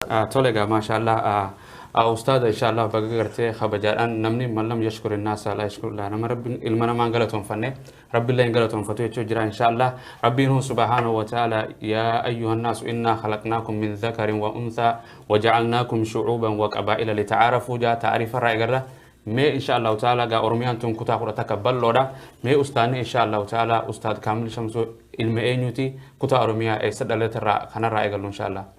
Tole egaa maashaallaah ustaaza inshaallaah baga gartee kabajaadhaan namni man lam yashkuri naasa laa yashkuri llaah nama rabbiin ilma namaa hin galatoonfanne rabbillee hin galatoonfatu jechuu jira inshaallaah rabbiin huu subhaanahu wa ta'aala yaa ayyuhan naasu innaa khalaqnaakum min zakarin wa unthaa wa ja'alnaakum shu'uuban wa qabaa'ila lita'aarafuu jaa ta'arifa irraa egarra mee inshaallaah ta'aala gaa oromiyaan tun kutaa kudha takka bal'oodha mee ustaanni inshaallaah ta'aala ustaad kaamil shamsuu ilma eenyuuti kutaa oromiyaa eessa dhalate irraa kanarraa eegallu inshaallaah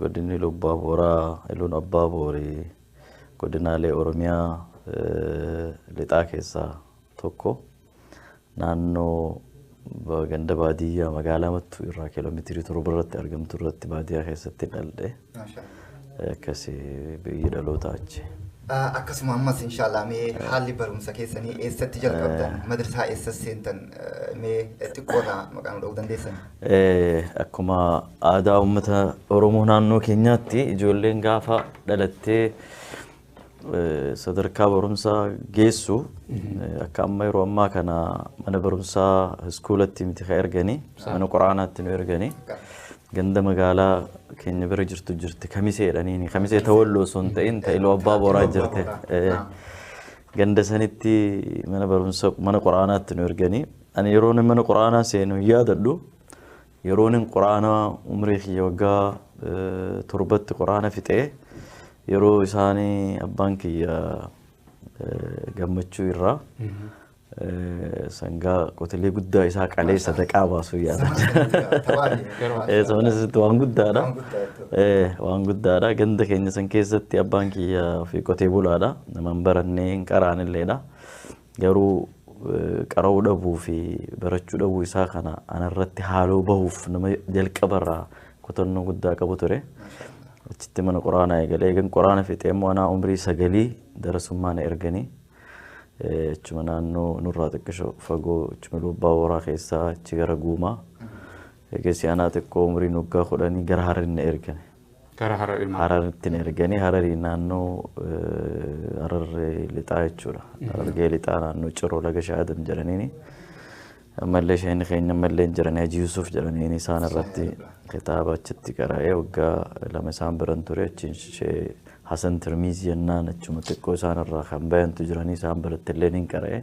Godinni Iluu Abbaa Booraa, Iluun Abbaa Boori godinaalee Oromiyaa lixaa keessaa tokko. Naannoo ganda baadiyyaa magaalaa Mattuu irraa kiiloomeetirii torba irratti argamtu irratti baadiyyaa keessatti dhaldhe. Akkasi biyyi dhalootaa achi. Akkasuma ammas inshaallah mee haalli barumsa keessanii eessatti jalqabdan madrasaa eessas seentan mee xiqqoodha maqaa nu dha'uu dandeessan. Akkuma aadaa uummata Oromoo naannoo keenyaatti ijoolleen gaafa dhalattee sadarkaa barumsaa geessu akka amma yeroo ammaa kana mana barumsaa iskuulatti miti ka ergani mana quraanaatti nu ergani ganda magaalaa keenya bira jirtu jirti kamisee jedhaniini kamisee tawalloo osoo hin ta'in ta iloo abbaa booraa jirte ganda sanitti mana barumsa mana quraanaatti nu ergani ani yeroo mana quraanaa seenu yaadadhu Yeroonin quraana umrii kiyya waggaa torbatti quraana fixe yeroo isaani abbaan kiyya gammachuu irraa sangaa qotilee guddaa isaa qalee sadaqaa baasuu yaadan. Sabnis waan guddaadha. Waan guddaadha. Ganda keenya san keessatti abbaan kiyya fi qotee bulaadha. Namaan barannee hin qaraanilleedha. Garuu qara'uu dhabuu fi barachuu dhabuu isaa kana anarratti haaloo bahuuf nama jalqabarraa kutannoo guddaa qabu ture. Achitti mana quraanaa eegalee eegan quraana fixee immoo anaa umrii sagalii darasummaa na erganii achuma naannoo nurraa xiqqisho fagoo achuma lubbaa horaa keessaa achi gara guumaa Eegasii anaa xiqqoo umriin waggaa kudhanii gara Hararitti na ergani. Gara Harari maal? Hararitti na erganii Harari naannoo Harargee Lixaa jechuudha. Harargee Lixaa naannoo Ciroo Laga Shaadam jedhaniini. Ammallee sheekni keenya ammallee hin jirani Hajii Yusuf jedhaniini isaan irratti kitaaba achitti qara'ee waggaa lama isaan biran ture achiin shee Hasan Tirmiizii jennaan achuma xiqqoo isaan irraa kan bayantu jiranii isaan biratti illee hin qara'ee.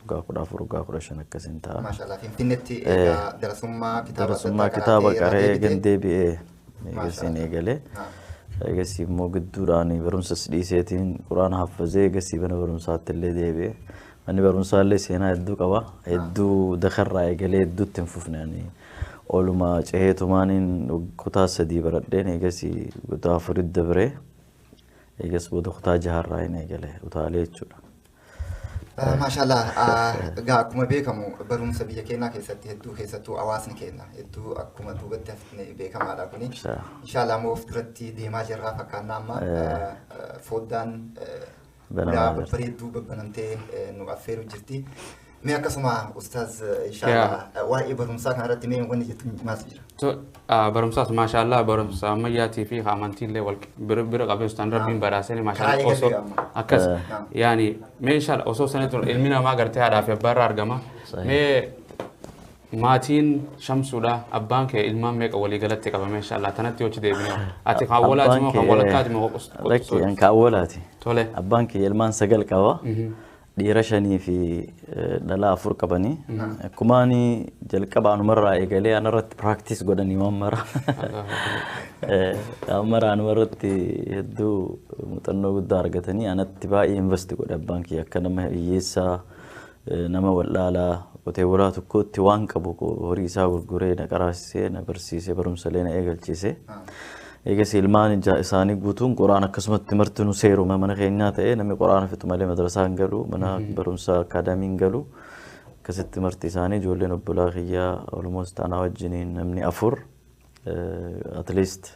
waggaa kudha afur waggaa kudha shan akkasiin ta'a. Maashaallah Finfinnetti Eh. egaa darasummaa kitaaba Darasummaa adda addaa kitaaba irraa qaree deebitee- eegan deebi'ee eegasii Maashaallah. eegalee Ah. eegasii immoo gidduudhaan barumsas dhiiseetiin quraana haffazee eegasii mana barumsaatti illee deebi'ee manni barumsaa illee seenaa hedduu qaba hedduu dakarraa eegalee hedduutti hin fufne ani ooluma ceheetumaaniin kutaa sadii baradheen eegasii kutaa afurit dabree eegas booda kutaa jaharraa hin eegale utaalee jechuudha. Maashaallah egaa akkuma beekamu barumsa biyya keenyaa keessatti hedduu keessattuu hawaasni keenya hedduu akkuma duubatti hafne beekamaadha kuni. Inshaallah ammoo of duratti deemaa jirra fakkaannaa amma foddaan ulaa babbareedduu babbanamtee nu affeeru jirti. Mee akkasuma ustaaz inshaallah waa'ee barumsaa kana irratti mee wanni jettu maaltu jira? To- ah, barumsaas maashaallah barumsa ammayyaatii fi amantiillee wal bira bira qabee ustaan rabbiin badhaasee Karaa maashaallah eegalee osoo amma. akkas Eh. yaani mee inshaallah osoo sanitti ol- ilmi namaa gartee haadhaa fi abbaa irraa argama Sahih. mee maatiin shamsuudha abbaan kee ilmaan meeqa walii galatti qabame inshaallah tanatti hochi deebinee ati kan walaati moo kan walakkaati moo qos- Lakki qos- an ka awwalaati. tole Abbaan kiyya ilmaan sagal qaba. dhiira shanii fi dhalaa afur qabani. Kumaani jalqaba anumarraa eegalee anarratti practice godhani waan mara. Waan mara anumarratti hedduu muuxannoo guddaa argatanii anatti baay'ee invest godhe abbaan kiyya akka nama hiyyeessaa nama wal'aalaa qotee bulaa tokkootti waan qabu horii isaa gurguree na qaraasisee na barsiisee barumsa illee na eegalchiise. Eegasii ilmaan ijaa isaanii guutuun Qur'aan akkasumatti martinu seeruma mana keenyaa ta'ee namni Qur'aana fixu malee madrasaa hin galu mana barumsaa akaadaamii hin galu akkasitti marti isaanii ijoolleen obbolaa kiyyaa almost anaa wajjiniin namni afur eh, at least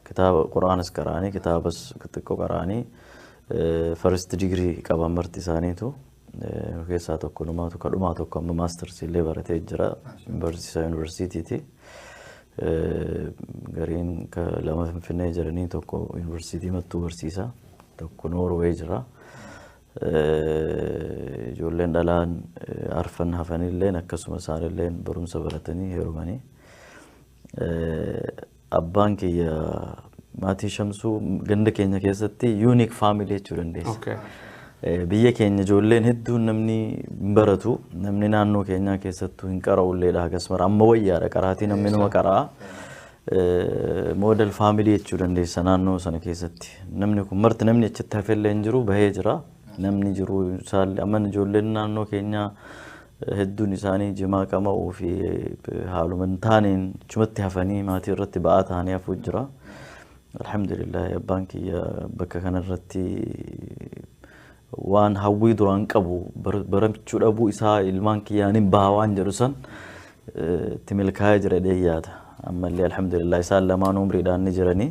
kitaaba Qur'aanas qara'anii kitaabas xiqqoo qara'anii eh, first degree qaban marti isaaniitu Nu keessaa tokko numaatu kadhumaa tokko amma maastarsi illee baratee jira. Barsiisaa yuunivarsiitiiti. Gariin lama Finfinnee jiranii tokko yuunivarsiitii mattuu barsiisa. Tokko Noorwee jira. Ijoolleen dhalaan arfan hafanilleen akkasuma isaanilleen barumsa baratanii heerumanii. Abbaan kiyya maatii Shamsuu ganda keenya keessatti unique family jechuu dandeessa. Okay. Eh, Biyya keenya ijoolleen hedduun namni hin baratu namni naannoo keenyaa keessattuu hin qara'ulleedha akkasuma amma wayyaadha qaraatii namni nama qara'a. Eh, Model family jechuu dandeessa naannoo sana keessatti namni kun marti namni achitti hafellee hin jiru bahee jira namni jiru isaallee amma ijoolleen naannoo keenyaa Hedduun isaanii jimaa qama'uu fi haaluma hin taaneen achumatti hafanii maatii irratti ba'aa ta'anii hafuu jira. Alhamdulillah abbaan kiyya bakka kanarratti waan hawwii duraan qabu bar- baramchuu dhabuu isaa ilmaan kiyyaan hin baha waan jedhu san eh, itti milkaa'ee jira jedhee yaada. Ammallee alhamdulillah isaan lamaan umriidhaan ni jiranii.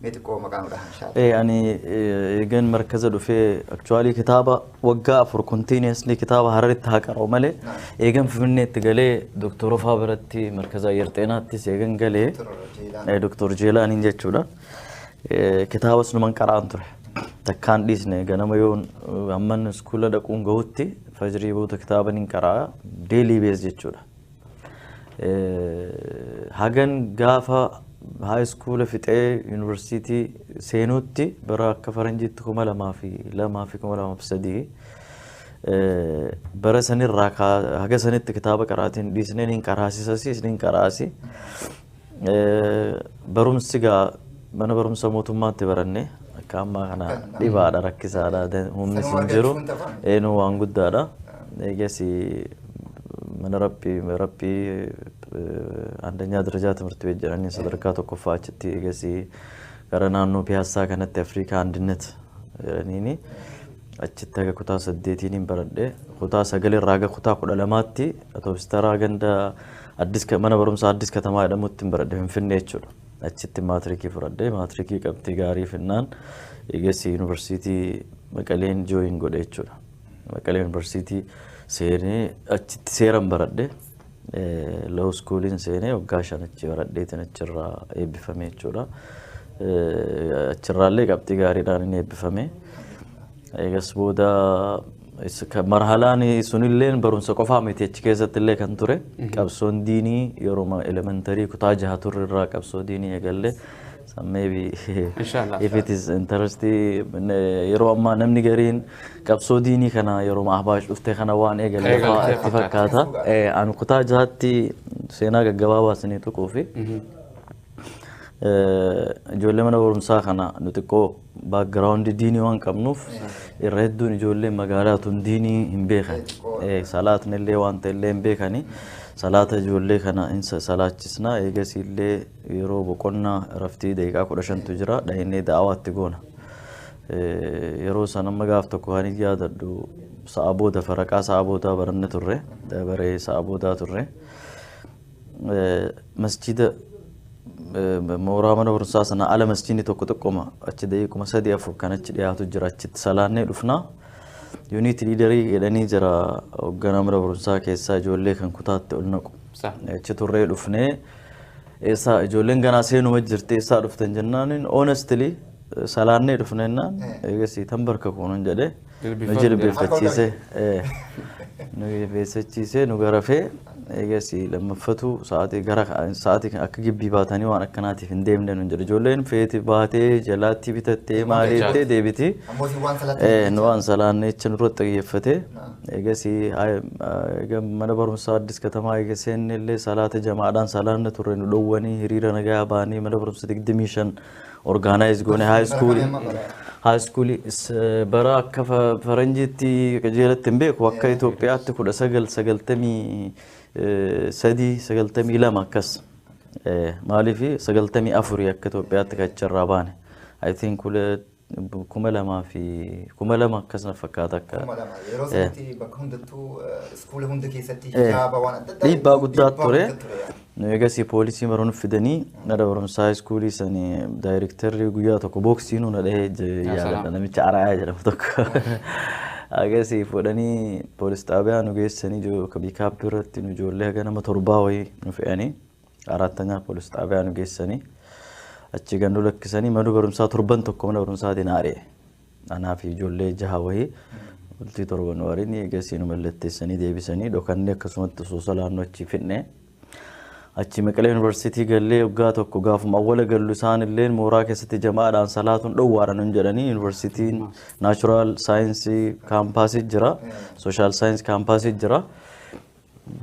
Mee xiqqoo maqaa nu dhahan inshallah. Ee ani eegan markaza dhufee aktuwaalii kitaaba waggaa afur kontiiniyeesli kitaaba hararitti haa qara'u malee eegan finfinneetti galee doktor ofaa biratti markaza ayyar xeenaattis eegan galee ee, doktor jeelaaniin jechuudha Ee, kitaabas numan qara'an ture takkaan dhiisne ganama yoon hamman iskuula dhaquun gahutti fajrii booda kitaaba nin qara'a deelii bees jechuudha Hagan gaafa high school fixee university seenuutti bara akka faranjiitti kuma lamaa fi lamaa fi kuma lamaa fi sadii bara sanirraa haga sanitti kitaaba qaraatiin dhiisneen hin qaraasisasiis hin qaraasi. Barumsi gaa mana barumsa mootummaatti baranne akka ammaa kana dhibaadha rakkisaadha humnis hin jiru eenuu waan guddaadha eegas mana rabbii rabbii andanyaa darajaa timirti beet jedhanii sadarkaa tokkoffaa achitti eegas gara naannoo piyaassaa kanatti afriikaa andinet jedhaniini achitti haga kutaa saddeetiiniin baradhe kutaa sagalirraa haga kutaa kudha lamaatti atoobistaraa ganda Addis Ka- mana barumsaa Addis Katamaa jedhamuttin baradhe Finfinnee jechuudha. Achitti maatirikii fudhadhe. Maatirikii qabxii gaarii finnaan eegassi yuunivarsiitii Maqaleen jooyin godhe jechuudha. Maqalee yuunivarsiitii seenee achitti seeran baradhe. Loo iskuuliin seenee waggaa shan achi baradheetiin achirraa eebbifame jechuudha. Eh, Achirraallee qabxii gaariidhaan inni eebbifame. Eegas booda is- ka- marhalaan sunillee barumsa qofaa miti achi keessatti illee kan ture qabsoon diinii yeroo elementarii kutaa jaha turre irraa qabsoo diinii eegalle So maybe Inshallah. if it is interesting ne- yeroo ammaa namni gariin qabsoo diinii kana yeroo ahbaash dhufte kana waan eegalle Eegalte fa'aa itti fakkaata. fakkaata Eh, an kutaa jahatti seenaa gaggabaabaa isinii tuquu fi Eh, ijoollee mana barumsaa kana nu xiqqoo background diinii waan qabnuuf irra hedduun ijoolleen magaalaa tun diinii hin beekan salaatni illee waan ta'e illee hin beekani salaata ijoollee kana hin salaachisna eegasii illee yeroo boqonnaa raftii daqiiqaa kudha shantu jira dhahinee da'awaatti goona yeroo san amma gaaf tokko kan hin yaadadhu sa'a booda faraqaa sa'a boodaa baranne turre dabaree sa'a boodaa turre. masjida mooraa mana barumsaa sana ala masjidni tokko tokkoma achi daqiiquma sadii afur kan achi dhiyaatu jira achitti salaannee dhufna. Yuuniit liidarii jedhanii jira hoogganaa mana barumsaa keessaa ijoollee kan kutaatti ol naqu. Achi turree dhufnee eessaa ijoolleen ganaa seenuma jirti eessaa dhuftan jennaan honestly salaannee dhufne jennaan eegasii tan barka kuunan jedhee. na jilbeeffachiise nu jilbeeffachiise nu garafee eegas lammaffatu sa'aatii gara sa'aatii akka gibbii baatanii waan akkanaatiif hin deemne nun jedhe ijoolleen feeti baatee jalaatti bitattee maal jettee deebiti nu waan salaanne jecha nurratti xiyyeeffate eegas mana barumsaa addis katamaa eega seenne illee salaata jamaadhaan salaanna turre nu dhowwanii hiriira nagayaa baanii mana barumsa digdamii shan Organize goone high school high school bara akka faranjiitti qajeelatti hin beeku akka Itoophiyaatti kudha sagal sagaltamii sadii sagaltamii lama akkas maaliif sagaltamii afurii akka Itoophiyaatti kacharraa baane I think kuma lamaa fi kuma lama akkas na fakkaata akka Kuma lama. Yeroo Eh. sanatti bakka hundattuu eh, iskuula hunda keessatti Eh. hijaaba waan adda addaa dhiibbaa guddaa dhiibbaa ture guddaa ture yaani. nu eegasii poolisii maroon fidanii mana barumsaa iskuulii sani daayirektarri guyyaa tokko booksii nu na dhahee je- Yaa yaadadha salaam. namicha araayaa jedhamu tokko agasii fuudhanii poolis xaabiyaa nu geessanii jo- ka biikaappi irratti nu ijoollee haga nama torbaa wayii nu fe'anii Arattanyaa poolis xaabiyaa nu geessanii achii gad nu lakkisanii mana barumsaa torban tokko mana barumsaatiin haari'e. Anaa fi ijoollee jaha wahii bultii torba nu hariin eegasii nu mallatteessanii deebisanii dhokannee akkasumatti osoo salaannoo achii fidne. Achii Maqalee Yuunivarsiitii gallee waggaa tokko gaafuma awwala gallu isaan illee mooraa keessatti jamaadhaan salaatuun dhowwaadha nun jedhanii yuunivarsiitiin naachuraal saayinsii kaampaasii jira sooshaal saayinsii kaampaasii jira.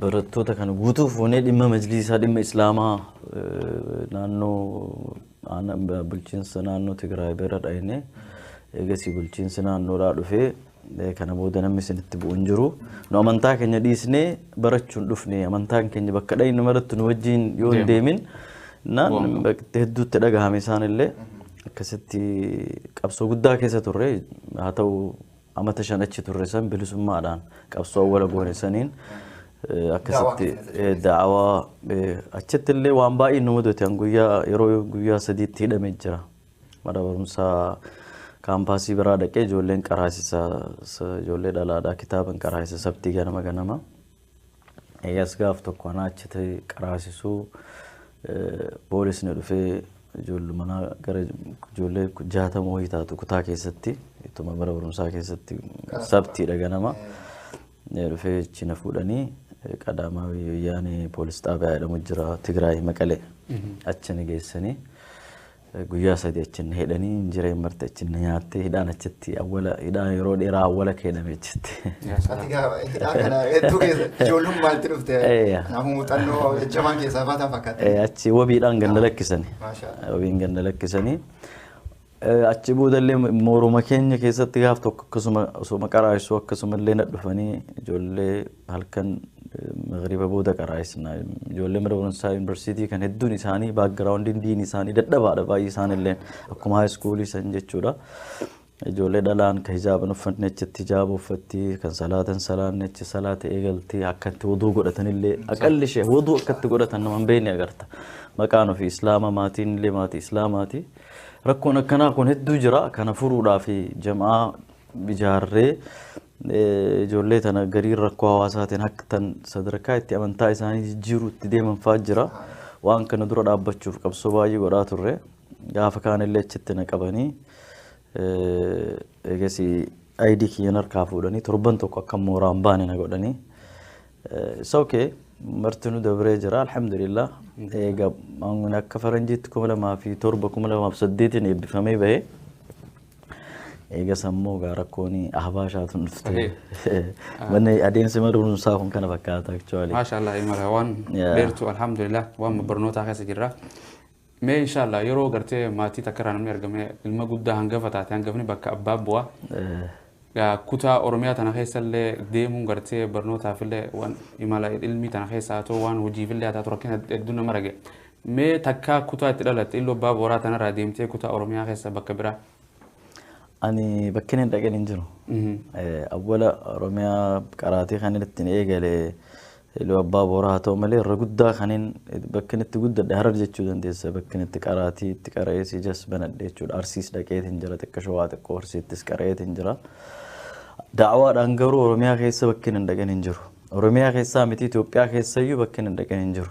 barattoota kana guutuu fuunee dhimma majliisaa dhimma islaamaa naannoo bulchiinsa naannoo Tigraay bira dhayne eegasii bulchiinsi naannoodhaa dhufee kana booda namni isinitti bu'u hin jiru. Nu amantaa keenya dhiisnee barachuun dhufne amantaan keenya bakka dhayne maratti nu wajjin yoo hin deemin naan hedduutti dhagahame isaanillee akkasitti qabsoo guddaa keessa turre haa ta'u Amata shan achi turre san bilisummaadhaan qabsoo awwala goone saniin eh, akkasitti eh, da'awaa eh, achitti illee waan baay'ee nu mudate an guyyaa yeroo guyyaa sadiitti hidhame jira mana barumsaa kaampaasii biraa dhaqee ijoolleen qaraasisa sa- ijoollee dhalaadhaa kitaaban qaraasisa sabtii ganama ganama Eegas gaaf tokko anaa achi ta'e qaraasisuu boolisni dhufee ijoollumanaa gara ijoollee jaatama wayii taatu kutaa keessatti ittuma bara barumsaa keessatti sabtiidha ganama dhufee achi na fuudhanii qadaamaa wayyaanee poolis xaabiyaa jedhamu jira Tigraay Maqalee achi na geessanii. Guyyaa sadi achi na hidhanii injireen marte achi na nyaattee hidhaan achitti awwala hidhaa yeroo dheeraa awwala keename achitti. Ati gaafa hidhaa kana hedduu keessa ijoollummaa itti dhufte Eeyya. nama muuxannoo jajjabaan keessaa baataa fakkaata. Eh, achi wabiidhaan ganda lakkisani. Maashaallah. Wabiin ganda lakkisanii. Eh, Achi boodallee mooruma keenya keessatti gaaf tokko akkasuma osuma qaraasuu akkasumallee na dhufanii ijoollee halkan magriba booda qaraa'isna. Ijoollee mana barumsaa yuunivarsiitii kan hedduun isaanii baakgiraawundiin diin isaanii dadhabaadha baay'ee isaanilleen akkuma haayiskuulii san jechuudha. Ijoollee dhalaan kan hijaaban uffanne achitti hijaaba uffatti kan salaatan salaanne achi salaata eegalti akka itti wuduu godhatanillee aqalli ishee wuduu akka itti godhatan nama hin beekne agarta. Maqaan ofii islaama maatiin illee maatii islaamaati. Rakkoon akkanaa kun hedduu jira kana furuudhaaf jam'aa ijaarree Ijoollee tana gariin rakkoo hawaasaatiin hakkatan sadarkaa itti amantaa isaanii jijjiiruu itti deeman fa'aa jira. Waan kana dura dhaabbachuuf qabsoo baay'ee godhaa turre. Gaafa kaanillee achitti na qabanii eegasii ayidii kiyyan harkaa fuudhanii torban tokko akka mooraa hin baane na godhanii. It's okay. Martinuu dabree jira alhamdulillah. Eega akka faranjiitti kuma lamaa fi torba kuma lamaa fi saddeetiin eebbifamee bahee. Eegas ammoo gaa rakkoon ahbaashaatu dhufte. Manni adeemsi barumsaa kun kana fakkaata actually. Maashaallah imala waan Yeah. dheertu alhamdulillah waan barnootaa keessa jirra. Mee inshaallah yeroo gartee maatii takka irraa namni argame ilma guddaa hangafa taate hangafni bakka abbaa bu'a. Eh, Gaa kutaa Oromiyaa tana keessa illee deemuun gartee barnootaaf illee waan imala ilmii tana keessa haa ta'u waan hojiif illee haa ta'u rakkina hedduu nama rage. Mee takkaa kutaa itti dhalatte Illu Abbaa Booraa tanaraa deemtee kutaa Oromiyaa keessaa bakka biraa? Ani bakkeen hin dhaqin hin jiru. Awwala Oromiyaa qaraatii kan ittiin eegale Iluu Abbaa Booraa haa ta'u malee irra guddaa kanin bakkeen itti guddadhe harar jechuu dandeessa. Bakkeen itti qaraatii itti qara'ee siijas banadhe jechuudha. Arsiis dhaqeetiin jira xiqqoo shawaa xiqqoo arsiittis qara'eetiin jira. Da'awaadhaan garuu Oromiyaa keessa bakkeen hin dhaqin hin jiru. Oromiyaa keessaa miti Itoophiyaa keessayyuu bakkeen hin dhaqin hin jiru.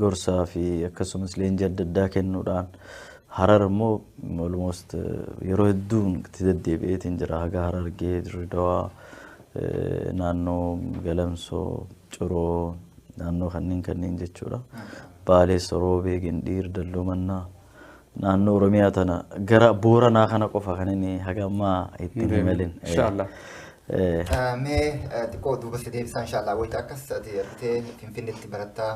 gorsaa fi akkasumas leenjii adda addaa kennuudhaan harar immoo almost yeroo hedduu itti deddeebi'eetiin jira haga harargee dirridawaa naannoo galamsoo ciroo naannoo kanneen kanneen jechuudha baalee soroobee gindhiir dalloo mannaa naannoo Oromiyaa tana gara Booranaa kana qofa kan inni haga ammaa itti hin himalin. Inshallah. Mee xiqqoo duuba si deebisaa inshallah wayita akkas ati argitee Finfinneetti barattaa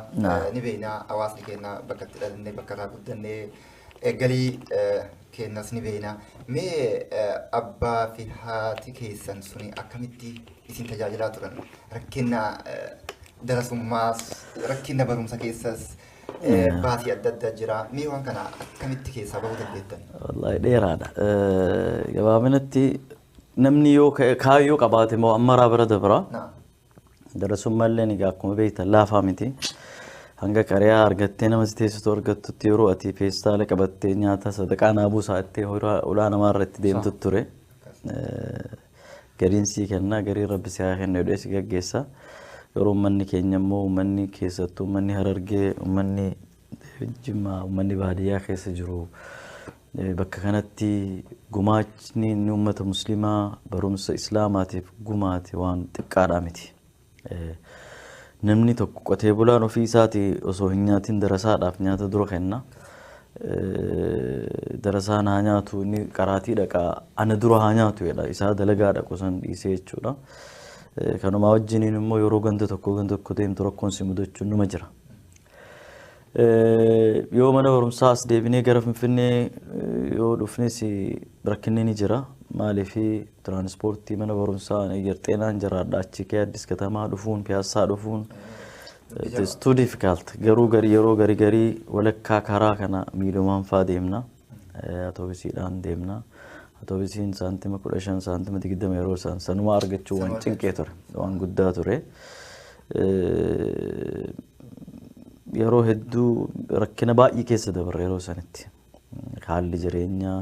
ni beeknaa hawaasni keenya bakka itti dhalannee bakka irraa guddannee galii keenyas ni beeknaa. Mee abbaa fi haati keessan suni akkamitti isin tajaajilaa turan? Rakkina darasummaas rakkina barumsa keessas Eh, Baasii adda addaa jira. Mee waan kana akkamitti keessaa bahuu dandeettan? Wallaahi dheeraadha. Eh, Gabaabinatti namni yoo ka- kaayyoo qabaate moo ammaraa bira dabra. Naam. Darasummaa illee egaa akkuma beektan laafaa miti. Hanga qariyaa argattee nama si teessitu argattutti yeroo ati feestaala qabattee nyaata sadaqaa naabuu sa'attee horaa ulaa namaa irratti deemtu ture. Eh, Gariin sii kenna gariin rabbi si haa kennu jedhee si gaggeessa. Garuu ummanni keenya immoo ummanni keessattuu ummanni harargee ummanni jimmaa ummanni baadiyyaa keessa jiru bakka kanatti gumaachni inni ummata muslimaa barumsa islaamaatiif gumaate waan xiqqaadhaa miti. Namni tokko qotee bulaan ofii isaati osoo hin nyaatin darasaadhaaf nyaata dura kenna. Darasaan haa nyaatu inni qaraatii dhaqa ana dura haa nyaatu jedha isaa dalagaa dhaqu san dhiisee jechuudha. Kanumaa wajjiniin immoo yeroo ganda tokko ganda tokko deemtu rakkoon si mudachuun numa jira. Yoo mana barumsaa as deebinee gara Finfinnee yoo dhufnes rakkinni ni jira. Maaliif tiraanispoortii mana barumsaa Ayyar Xeenaan jiraadha achi kee Addis Katamaa dhufuun Piyaassaa dhufuun it is too difficult. Garuu gari yeroo gari garii walakkaa karaa kana miilumaan faa deemna. Atoobisiidhaan deemna. Atoobisiin saantima kudha shan saantima digdama yeroo isaan sanumaa argachuu waan cinqee ture. Waan guddaa ture. Yeroo hedduu rakkina baay'ee keessa dabarre yeroo sanitti. Haalli jireenyaa,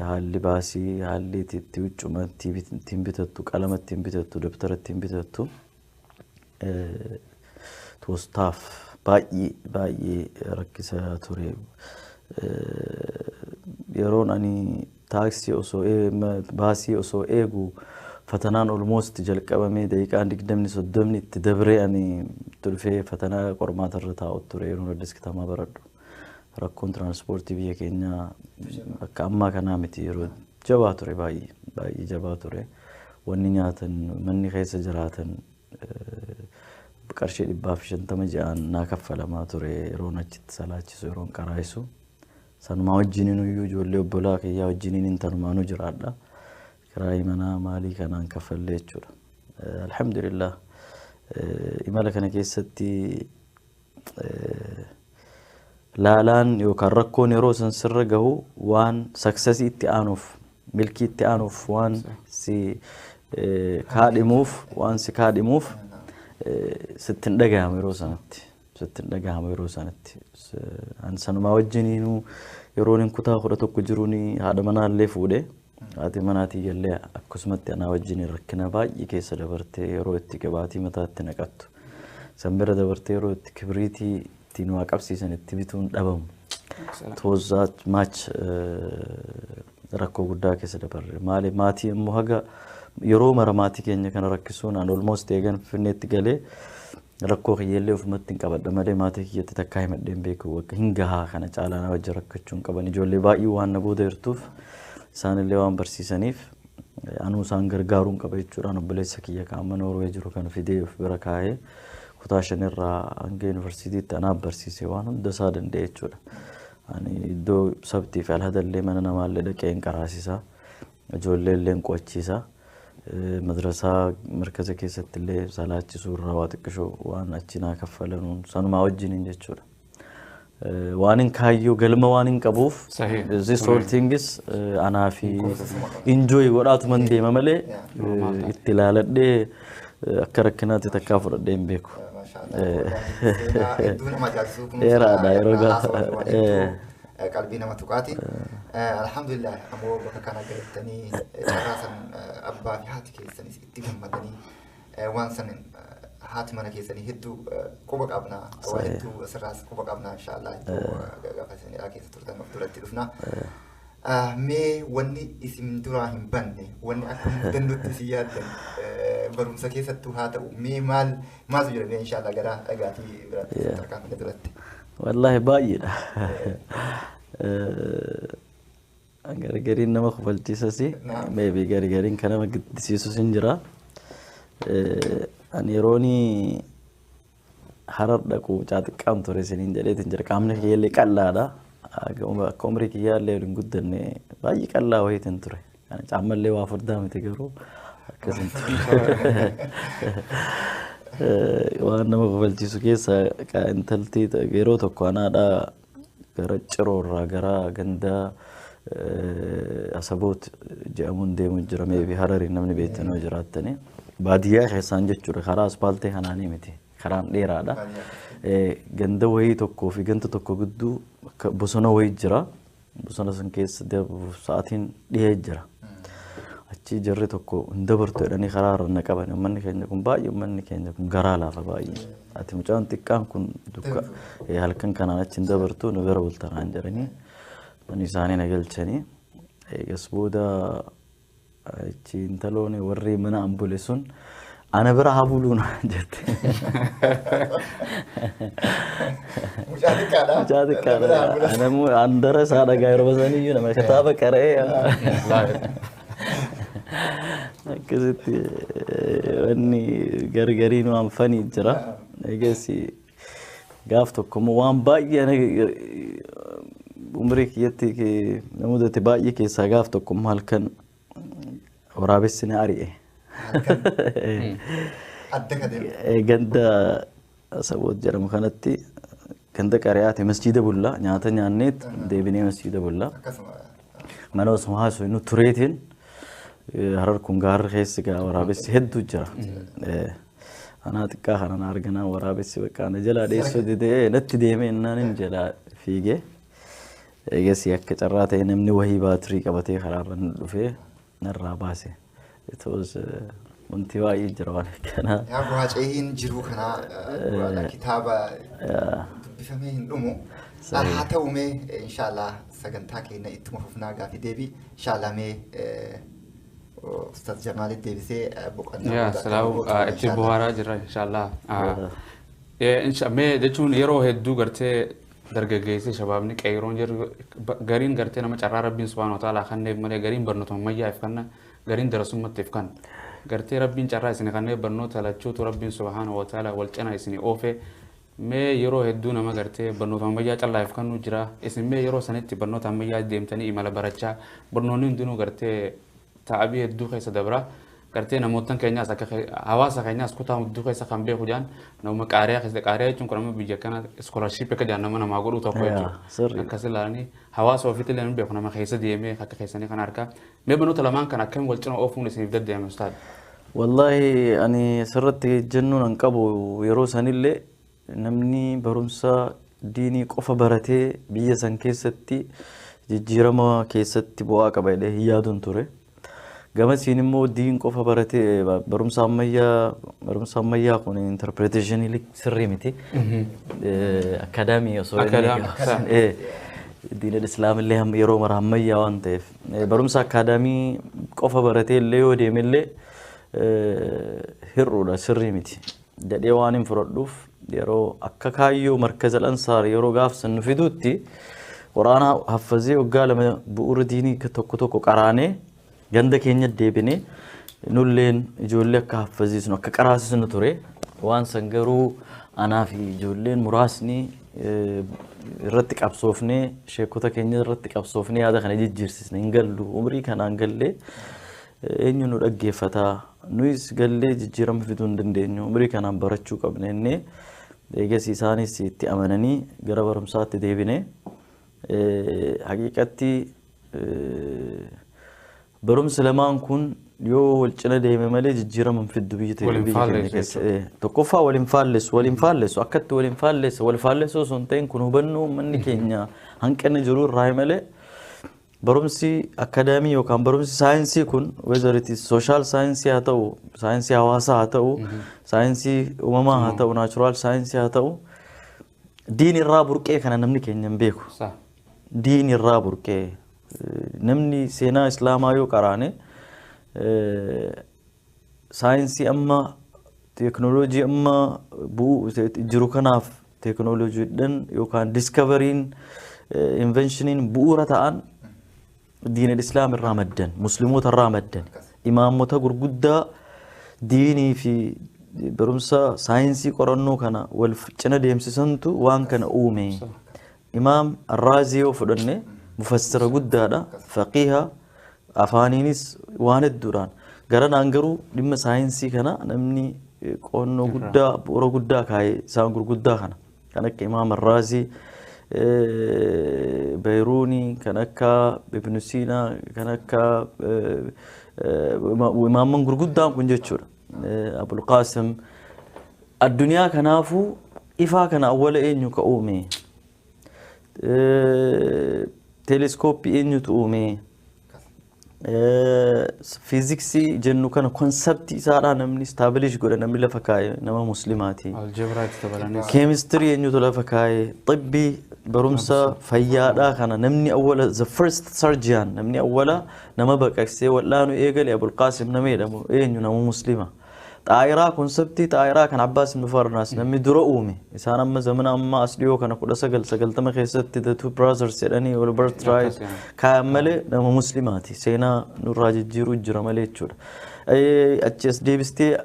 haalli baasii, haalli itti huccuma ittiin bitattu, qalama ittiin bitattu, dabtara ittiin bitattu. toostaaf baay'ee baay'ee rakkisaa ture. Yeroon ani taaksii osoo baasii osoo eegu fatanaan olmoost jalqabamee daqiiqaan digdamni soddomni itti dabree ani tulfee fatanaa qormaata irra taa'u ture yeroon addis kitamaa baradhu. Rakkoon tiraanspoortii biyya keenyaa akka ammaa kanaa miti yeroo jabaa ture baay'ee baay'ee jabaa ture. Wanni nyaatan, manni keessa jiraatan qarshii dhibbaa fi shantama ji'aan naa kaffalamaa ture yeroon achitti salaachisu yeroon qaraayisu. Sanumaa wajjiniin iyyuu ijoollee obbolaa kiyyaa wajjiniin intanumaanuu jiraadha. Kiraayii manaa maalii kanaan kaffallee jechuudha. Alhamdulillah imala kana keessatti laalaan yookaan rakkoon yeroo san sirra gahu waan saksasii itti aanuuf milkii itti aanuuf waan si kaadhimuuf waan si kaadhimuuf sitti hin dhagahamu yeroo sanatti sitti hin dhagahamu yeroo sanatti an sanumaa wajjiniinuu yeroon hin kutaa kudha tokko jiruun haadha manaallee fuudhee. Haati manaa tiyyallee akkasumatti anaa wajjin rakkina baay'ee keessa dabartee yeroo itti qibaatii mataatti naqattu. San bira dabartee yeroo itti kibriitii ittiin waa qabsiisan itti bituun dhabamu. It was that much eh, rakkoo guddaa keessa dabarre. Maali maatii immoo haga yeroo mara maatii keenya kana rakkisuun an almost eegan finneetti galee Rakkoo kiyyallee ofumattin qabadha malee maatii kiyyatti takkaa himadhee hin beeku. Bakka hin gahaa kana caalaa na wajjin rakkachuu hin qaban. Ijoollee baay'ee waan na booda jirtuuf isaanillee waan barsiisaniif anuu isaan gargaaruu hin qaba jechuudhaan obboleessa kiyya kan amma Noorwee jiru kan fidee of bira kaa'ee kutaa shanirraa hanga yuunivarsiitiitti anaaf barsiise waan hunda isaa danda'e jechuudha. Ani iddoo sabtii fi alhadallee mana namaallee dhaqee hin qaraasisaa. Ijoollee illee hin qo'achiisa. Madrasaa markaza keessatti illee salaachisuu irraa waa xiqqishoo waan achi naa kaffalanuun sanumaa wajjiniin jechuudha. Waan hin kaayyoo galma waan hin qabuuf Sahih. this whole thing is eh, anaa fi enjoy godhaatuman deema malee eh, itti ilaaladhee eh, akka rakkinaatti takkaa fudhadhee hin beeku. Maashaallah. Seenaa hedduu nama ajaa'ibsiisu kun Dheeraadha, seenaa yeroo gaafa- haasawaa waan hedduu. eh. qalbii nama tuqaati. Alhamdulillah ammoo bakka kana gahettanii carraa san abbaa fi haati keessanis itti gammadanii waan san haati mana keessanii hedduu quba qabna waa hedduu asirraas quba qabna inshaallah hedduu gaafa isin hidhaa keessa turtan of duratti dhufna. Mee wanni isin duraa hin banne wanni akka mudannootti isin yaaddan barumsa keessattuu haa ta'u mee maal maaltu jira mee inshaallah gara dhagaatii biraatti tarkaanfina duratti. Wallaahi baay'eedha. Gargariin nama kofalchiisas meebi gargariin kan nama giddisiisus hin jira. Ani yeroon harar dhaqu mucaa xiqqaan ture isiniin jedheetiin jira. Qaamni kiyyaallee qal'aadha. Akka umrii kiyyaallee hin guddanne baay'ee qal'aa wayiitiin ture. Kana caammallee waa furdaa miti garuu akkasiin ture. Waan nama kofalchiisu keessa ka intalti ta- yeroo tokko anaadhaa gara ciroorraa gara gandaa eh, asaboot jedhamuun deemuun jira meebi harariin namni beektan yoo jiraattanii baadiyyaa keessaan jechuudha karaa aspaaltee kanaanii miti karaan dheeraadha Eh, ganda wayii tokkoo fi ganda tokko gidduu akka bosona wayii jira Bosona san keessa darbuuf sa'aatiin dhihee jira. Achii jarri tokko hin dabartu jedhanii karaa irra na qaban. Uummanni keenya kun baay'ee uummanni keenya kun garaa laafa baay'ee. Ati mucaan xiqqaan kun dukka eh, halkan kanaan achi hin dabartu nu bira bultanaan jedhanii mana isaanii na galchanii. Eegas booda Ichi intalooni warri mana an bule sun ana bira haa buluu naan jette. Mucaa xiqqaadha. Mucaa xiqqaadha. Ana immoo an dara isaa dhagaa yeroo sanii iyyuu nama kitaaba qara'ee. Akkasitti eh, wanni gargariin waan fanii jira. Eegas Gaaf tokko immoo waan baay'ee na- umrii kiyyatti ke- na mudate baay'ee keessaa gaaf tokko immoo halkan waraabessi na ari'e. Adda ka deemu. Eh, Ganda Saboot jedhamu kanatti ganda qari'aati masjiida bullaa nyaata nyaanneet deebinee masjiida bullaa. Akkasuma. mana osoo haasoo nu tureetiin eh, harar kun gaarri keessi gaa waraabessi hedduu jira. Eh, Anaa xiqqaa kana na arganaan waraabessi bakka na jalaa dheessuu didee natti deemee innaan inni jalaa fiigee. Eegasii akka carraa ta'e namni wahii baatirii qabatee karaarra nu dhufee narraa baase. It was uh, wanti baay'ee jira waan akkanaa. Yaa bu'aa ceehiin jiruu kanaa eh, bu'aadha. kitaaba Yaa, dubbifamee hin dhumu. Sahi. Haa ta'u mee eh, inshaallah sagantaa keenya ittuma fufnaa gaafi deebii inshaallah mee eh, Ustaz Jamaalitti deebisee eh, boqonnaa yaa booda akka salaam boqotu ah, godha itti inshaallah. buhaaraa jira inshaallah Ah, eh, insha- mee jechuun yeroo hedduu gartee dargaggeessi shabaabni qeeyroon jiru ba- gariin gartee nama carraa rabbiin subhaana wa ta'aalaa kanneef malee gariin barnoota ammayyaaf kanna gariin darasummattiif kan gartee rabbiin carraa isin kanneef barnoota lachuutu rabbiin subhaana wa ta'aalaa wal cina isin oofee Mee yeroo hedduu nama gartee barnoota ammayyaa callaa if kannuu jiraa isin mee yeroo sanitti barnoota ammayyaa deemtanii imala barachaa barnoonni hundinuu gartee ta'abii hedduu keessa dabra gartee namoottan keenyaas akka ke- hawaasa keenyaas kutaa hudduu keessa kan beeku jaan nama qaariyaa keessa qaariyaa jechuun kun amma biyya kana iskoolarship akka jaan nama namaa godhuu tokko Yeah, jechuudha sirriidha. akkas ilaalanii hawaasa ofiitti illee hin beeku nama keessa deemee akka keessanii kana harkaa Mee manoota lamaan kana akkamiin wal cina oofuun isiniif daddeeme ustaad? Wallaahi ani asirratti jennuun an qabu yeroo sanillee namni barumsa diinii qofa baratee biyya san keessatti jijjiirama keessatti bu'aa qaba jedhee hin yaadun ture. Gamasiin immoo diin qofa baratee ba- barumsa ammayyaa barumsa ammayyaa kun interpreteeshinii sirrii miti. Akaadaamii osoo inni Akaadaamii, gaafsan- eh, diinal islaamillee ham- yeroo mara ammayyaa waan ta'eef. Barumsa akkaadaamii qofa baratee illee yoo deeme illee hir'uudha sirrii miti. Jedhee waan hin fudhadhuuf yeroo akka kaayyoo markaza lansaar yeroo gaafsan nu fiduutti quraanaa haffazee waggaa lama bu'uura diinii tokko tokko qaraanee ganda keenya deebinee nulleen ijoollee akka haffaziisnu akka qaraasisnu ture waan san garuu anaa fi ijoolleen muraasni irratti qabsoofnee sheekota keenya irratti qabsoofnee yaada kana jijjiirsisne hin gallu umrii kanaan gallee eenyu nu dhaggeeffata nuyis gallee jijjiirama fiduu hin dandeenyu umrii kanaan barachuu qabna innee eegas isaanis itti amananii gara barumsaatti deebine haqiiqatti Barumsi lamaan kun yoo wal cina deeme malee jijjiirama hin fiddu biyyi ta'e Wal hin biyya keenya faallessu keessa. jechuudha. Eh, Tokkoffaa wal hin faallessu, wal hin faallessu. Akkatti wal hin faallessu, wal faallessu osoo hin ta'in kun hubannoo uummanni keenya hanqina jiru irraa malee barumsi akadaamii yookaan barumsi saayinsii kun whether it is social saayinsii haa ta'u, saayinsii hawaasaa haa ta'u, saayinsii uumamaa haa ta'u, natural saayinsii haa ta'u diin irraa burqee kana namni keenya hin beeku. Sa. diin irraa burqee Namni seenaa Islaamaa yoo qaraane saayinsii amma teeknooloojii amma bu'u jiru kanaaf teeknooloojiidhaan yookaan diskavariin inveenshiniin bu'uura ta'an diinal islaam irraa maddan musliimoota irraa maddan imaammota gurguddaa diinii fi barumsa saayinsii qorannoo kana wal cina deemsisantu waan kana uume Imaam Arraazii yoo fudhanne mufassira guddaadha, faqiiha, afaaniinis waan hedduudhaan. Garanaan garuu dhimma saayinsii kana namni eh, qo'annoo guddaa, bu'uura guddaa kaa'e isaan gurguddaa kana. Kan akka Imaam Arraazii, eh, Beeyruunii, kan akka Ibnu Siinaa, kan akka eh, eh, ima- imaamman gurguddaan kun jechuudha. Abulqaasim addunyaa kanaafu ifaa kana awwala eenyu ka uume? Teeleskooppii eenyutu uume? Fiiziksii jennu kana konseptii isaadhaa namni istaabilish godhe namni lafa kaa'e nama muslimaati. Algebraa itti dabalanii. Keemistirii eenyutu lafa kaa'e? Xibbii barumsa fayyaadhaa kana namni awwala the first surgeon namni awwala Nama baqaqsee wal'aanu eegale Abulqaasim nama jedhamu eenyu nama muslima. Xaayiraa konseptii xaayiraa kan Abbaas ibn Farnaas namni dura uume. Isaan amma zamana ammaa as dhiyoo kana 1990 keessatti The Two Brothers jedhanii Albert Wright Akkas, yaa. kaayan malee nama muslimaati. Seenaa nurraa jijjiiruu jira malee jechuudha. Eh, Achi as deebistee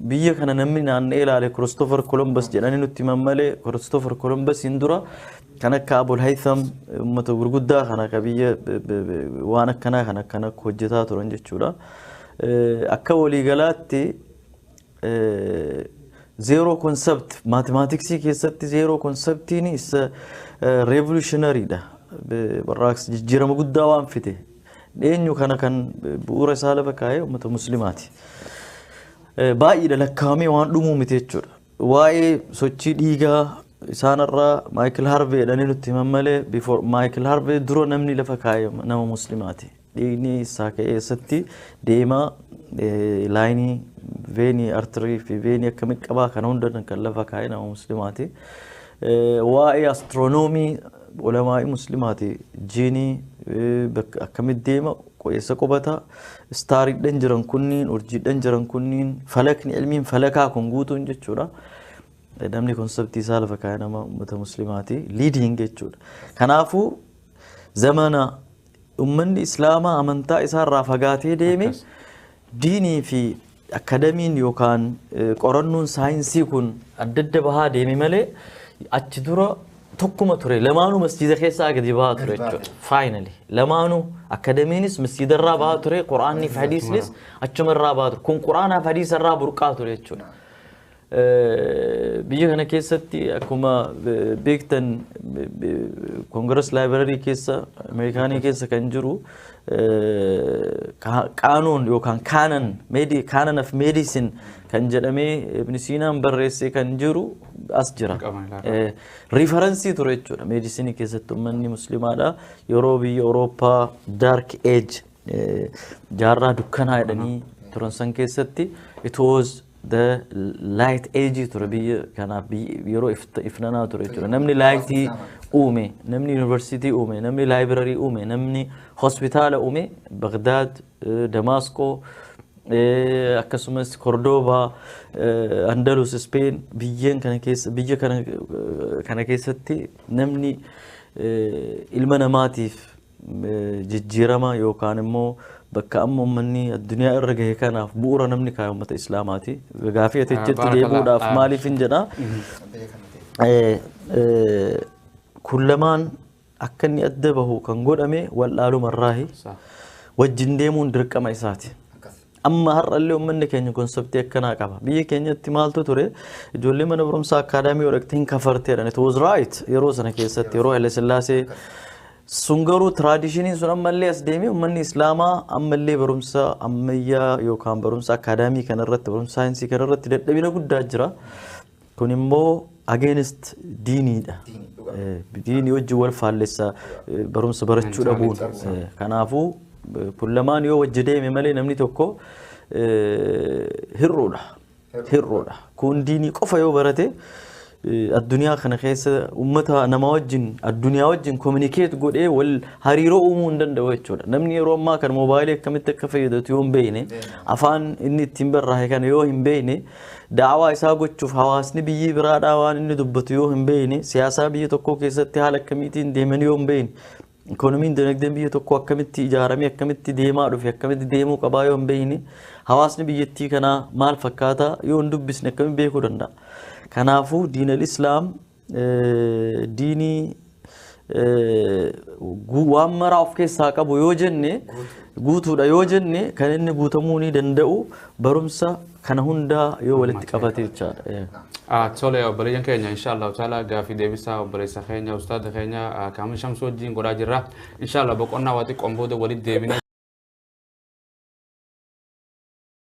biyya kana namni naanna'ee ilaale Kiristoofer Kolombas jedhanii nutti himan malee Kiristoofer Kolombasiin dura kan akka Abul Haytham uummata gurguddaa kana akka biyya b- b- b- waan akkanaa kan akkana akka hojjetaa turan jechuudha. Eh, Akka waliigalaatti eh, zeeroo konsept maatimaatiksii keessatti zeeroo konseptiin isa reevolushinarii dha. Be- Barraaqsi jijjiirama guddaa waan fide Eenyu kana kan bu'uura isaa lafa kaa'ee uummata muslimaati. Eh, Baay'eedha lakkaa'amee waan dhumuu miti jechuudha. Waa'ee sochii dhiigaa isaanirraa Maayikil Harvee jedhanii nutti himan malee before Maayikil Harvee dura namni lafa kaa'e nama muslimaati. Dhiigni isaa ka'ee eessatti deemaa eh, laayinii veenii artirii fi veenii akkamitti qabaa kana hunda kan lafa kaa'e nama muslimaati. Eh, waa'ee astiroonoomii Ulamaa'i muslimaati jiini bakka akkamitti deema qo'eessa qubata istaariidhan jiran kunniin urjiidhan jiran kunniin falakni ilmiin falakaa kun guutuun jechuudha namni konseptii isaa lafa kaaya nama ummata muslimaati liidiin jechuudha kanaafuu zamana Ummanni Islaamaa amantaa isaarraa fagaatee deeme Akkas. diinii fi akadamiin yookaan eh, qorannoon saayinsii kun adda adda bahaa deeme malee achi dura tokkuma ture lamaanuu masjiida keessaa gadi bahaa ture Gadi bahaa jechuudha. Faayinali lamaanuu akadamiinis masjiidarraa bahaa ture quraanni fi hadiisnis achumarraa bahaa ture kun quraanaa fi hadiisarraa burqaa ture jechuudha. Biyya kana keessatti akkuma beektan Congress Library keessa Ameerikaanii keessa kan jiru qaanuun yookaan kaanan meedii kaanan of meedisin kan jedhamee Ibn Siinaan barreessee kan jiru as jira. Riifaransii ture jechuudha meedisinii keessatti uummanni muslimaadha yeroo biyya Awurooppaa Dark Age Jaarraa dukkanaa jedhanii turan san keessatti it was the light age ture biyya kanaaf biyyi- yeroo ifta- ifnanaa ture jechuudha. Namni laayitii uume, namni yuunivarsiitii uume, namni laayibirarii uume, namni hospitaala uume Bagdaad, eh, Damaasqoo, eh, akkasumas Kordoobaa, eh, Andalus, Ispeen biyyeen kana keessa biyya kana eh, kana keessatti namni eh, ilma namaatiif jijjiiramaa yookaan immoo bakka amma ummanni addunyaa irra gahe kanaaf bu'uura namni kaa'e ummata islaamaati. Gaafii ati jettu deebi'uudhaaf maaliif hin jedhaa? Kun lamaan akka inni adda bahu kan godhame wal'aaluma irraahi. Wajjin deemuun dirqama isaati. Amma har'allee uummanni keenya konseptii akkanaa qaba. Biyya keenyatti maaltu ture ijoollee mana barumsaa akaadaamii odhaqxee hin kafarteedhaan it was right yeroo sana keessatti yeroo Haile Sillaasee sun garuu tiraadishiniin sun ammallee as deemee uummanni islaamaa ammallee barumsa ammayyaa yookaan barumsa akaadaamii kanarratti barumsa saayinsii kanarratti dadhabina guddaa jira. Kun immoo against diiniidha. Diinii wajjin wal faallessa barumsa barachuu dhabuun. Kanaafuu kun lamaan yoo wajji deeme malee namni tokko hir'uudha. Hir'uudha. Kun diinii qofa yoo barate addunyaa kana keessa uummata nama wajjin addunyaa wajjin kominikeet godhee wal hariiroo uumuu hin danda'u jechuudha. Namni yeroo ammaa kana moobaayilii akkamitti akka fayyadatu yoo hin beekne afaan inni ittiin barraa'e kana yoo hin beekne Da'awaa isaa gochuuf hawaasni biyyi biraadhaa waan inni dubbatu yoo hin beekne, siyaasaa biyya tokkoo keessatti haala akkamiitiin deeman yoo hin beekne, ikoonomiin dinagdeen biyya tokkoo akkamitti ijaaramee akkamitti deemaa dhufe akkamitti deemuu qabaa yoo hin beekne, hawaasni biyyattii kanaa maal fakkaata yoo hin dubbisne akkamitti beekuu danda'a? Kanaafuu diinal islaam diinii waan maraa of keessaa qabu yoo jenne guutuudha yoo jenne kan inni guutamuu ni danda'u barumsa kana hundaa yoo walitti qabate jechaadha. Tole obboleeyyan keenya inshaallah taala gaafii deebisaa obboleessa keenya ustaada keenya kaamil shamsuu wajjin godhaa jirra. Inshaallah boqonnaa waa xiqqoon booda walitti deebinee